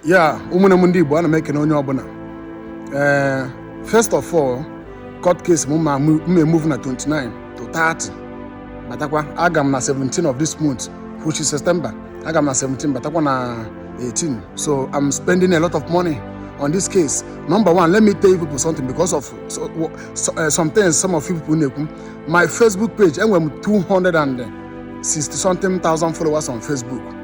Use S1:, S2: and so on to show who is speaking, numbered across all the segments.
S1: yeah ụmụnne m ndị Igbo ana m ekene onye ọbụna ee first of all court case m m ma-emove na 29 to 30 batakwa aga m na 17 of this month which is September aga m na 17 batakwa na 18 so I'm spending a lot of money on this case number one let me tell you people something because of so, so, uh, some things some of you people na-ekwu my Facebook page enwe m 260 something thousand followers on Facebook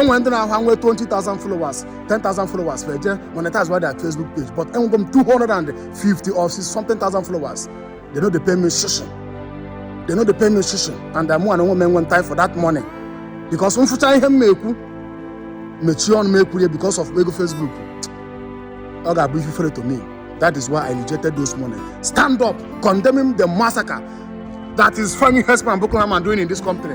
S1: enwere ndị na-ahụ nwee 20,000 followers 10,000 followers fa eje monetize wa their facebook page but enwego m 250 or something thousand followers they no dey pay me shishi they no dey pay me shishi and I'm one woman enwe time for that money because m fụcha ihe m na-ekwu mechie ọnụ m ekwurie because of ego facebook ọ ga-abụ ife fere to me that is why I rejected those money stand up condemning the massacre that is Femi Hesman Bukunama doing in this company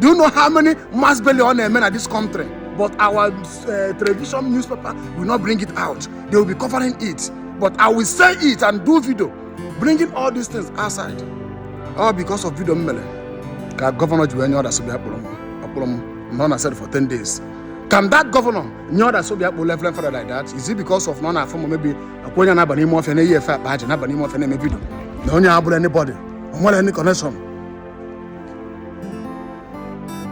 S1: Do you know how many mass burial e mee na this country? But our uh, television newspaper will not bring it out. They will be covering it. But I will say it and do video, bringing all these things outside. All because of video m mele. Ka governor ji wee nye order sị bịa kpụrụ m akpụrụ m nọọ na cell for 10 days. Can that governor nye order sị bịa kpụ Reverend Father like that? Is it because of na ọ na-afụ m maybe ọ kwa onye na-aba n'ime ọfịa na-eyi efe akpa aja na-aba n'ime ọfịa na-eme video na onye abụrọ anybody o nwerọ any connection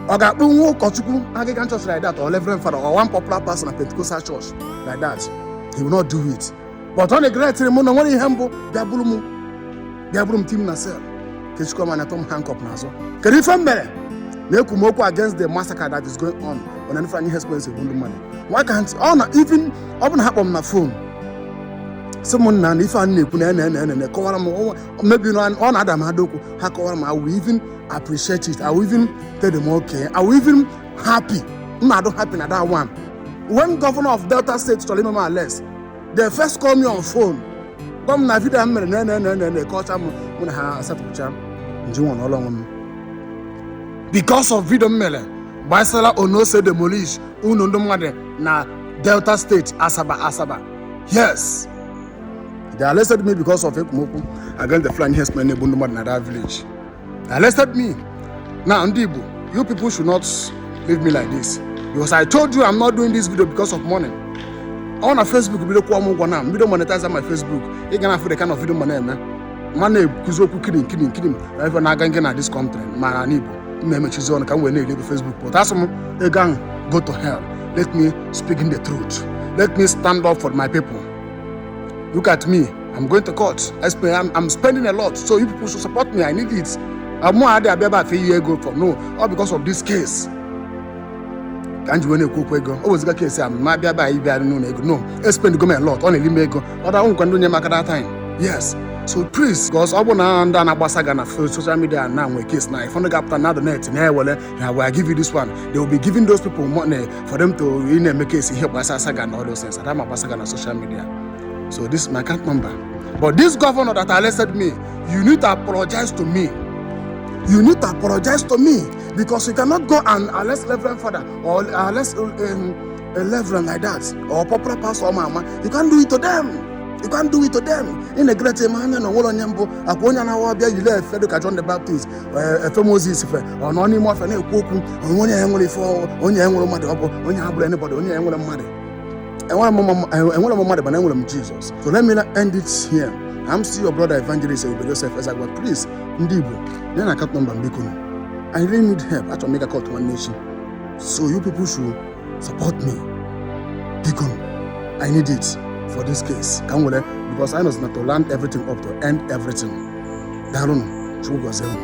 S1: ọ ga-akpụnwu ụkọchukwu Anglican church like that or Reverend Father or one popular pastor na Pentecostal church like that he will not do it but ọ na-egeretịrị mụ na nwerọ ihe m bụ bịa buru m bịa buru m tie m na cell kechikwuo m anya tụọ m handcuff n'azụ kedu ife m mere na ekwu m okwu against the massacre that is going on on an Ifeanyi Express egbu ndị mmadụ why can't ọ na even ọ bụ na ha kpọ m na phone sị m nna na ife a na-ekwu na ene ene ene kọwara m maybe no, ọ na-ada m ada okwu ha kọwara m I will even appreciate it I will even tell them okay I will even happy m ma-adị happy na that one when governor of Delta State chọrọ ime m arrest they first call me on phone gwa m na video m mere na na na na na kọcha m mụ na ha asatụcha nji nwa n'ụlọ onwe m because of video m mere gbasara ụnọ e si demolish ụnọ ndị mmadụ na Delta State Asaba Asaba yes They arrested me because of ekwu m okwu against the Fulani herdsmen na-egbu ndị mmadụ na that village. They arrested me. Now, ndị Igbo, you people should not leave me like this. Because I told you I'm not doing this video because of money. Ọ na Facebook bido kwụọ m ụgwọ na m bido monetize my Facebook. Ị ga na-afụ the kind of video m na-eme. M ma na-ekwuzi okwu killing killing killing na ife na-aga nke na this country ma na ala Igbo. M na-emechizi ọnụ ka m wee na-eli ego Facebook. But asị m ego ahụ go to hell. Let me speak in the truth. Let me stand up for my people. Look at me. I'm going to court. I spend, I'm, I'm spending a lot. So you people should support me. I need it. Mụwa ada abịa ayọ ego for no. All because of this case. ka m ji wee na-ekwu okwu ego o wezuga case a m ma bịa be anyị bịa n'ụlọ ego no espend go a lot ọ na-eri m ego ọ da nkwa ndị nye m aka that time yes so please because ọ bụ na ndị a na-agbasa ga na social media na nwee case na ifọdụ ga-apụta na the net na-ewere ha wee give you this one they will be giving those people money for them to ị na-eme kesi ihe gbasara saga na all those things ada makwa saga na social media so this is my account number but this governor that arrested me you need to apologize to me you need to apologize to me because you cannot go and arrest reverend father or arrest um, a reverend like that or popular pastor or mama you can't do it to them you can't do it to them in a great man na onwere onye mbụ akwa onye na-awa ọbịa yile efe dịka john the baptist Ee, efe moses fe ọ nọ n'ime ọfịa na-ekwu okwu onwe onye ya nwere ife ọ- onye ya nwere mmadụ ọ bụ onye ha bụrụ anybody onye ya nwere mmadụ enwere m mma- eh, enwerọ m mmadụ mana enwere m jizọs so let me end it here i'm still your brother evangelist ebube joseph ezagwa please ndị igbo nee nụ akaụnt nọmba m biko nụ. i really need help achọrọ m ịga kọt nwanne echi so you people should support me biko nụ. i need it for this case ka m were because i know na to round everything up to end everything daalụnụ chukwu gọzie unu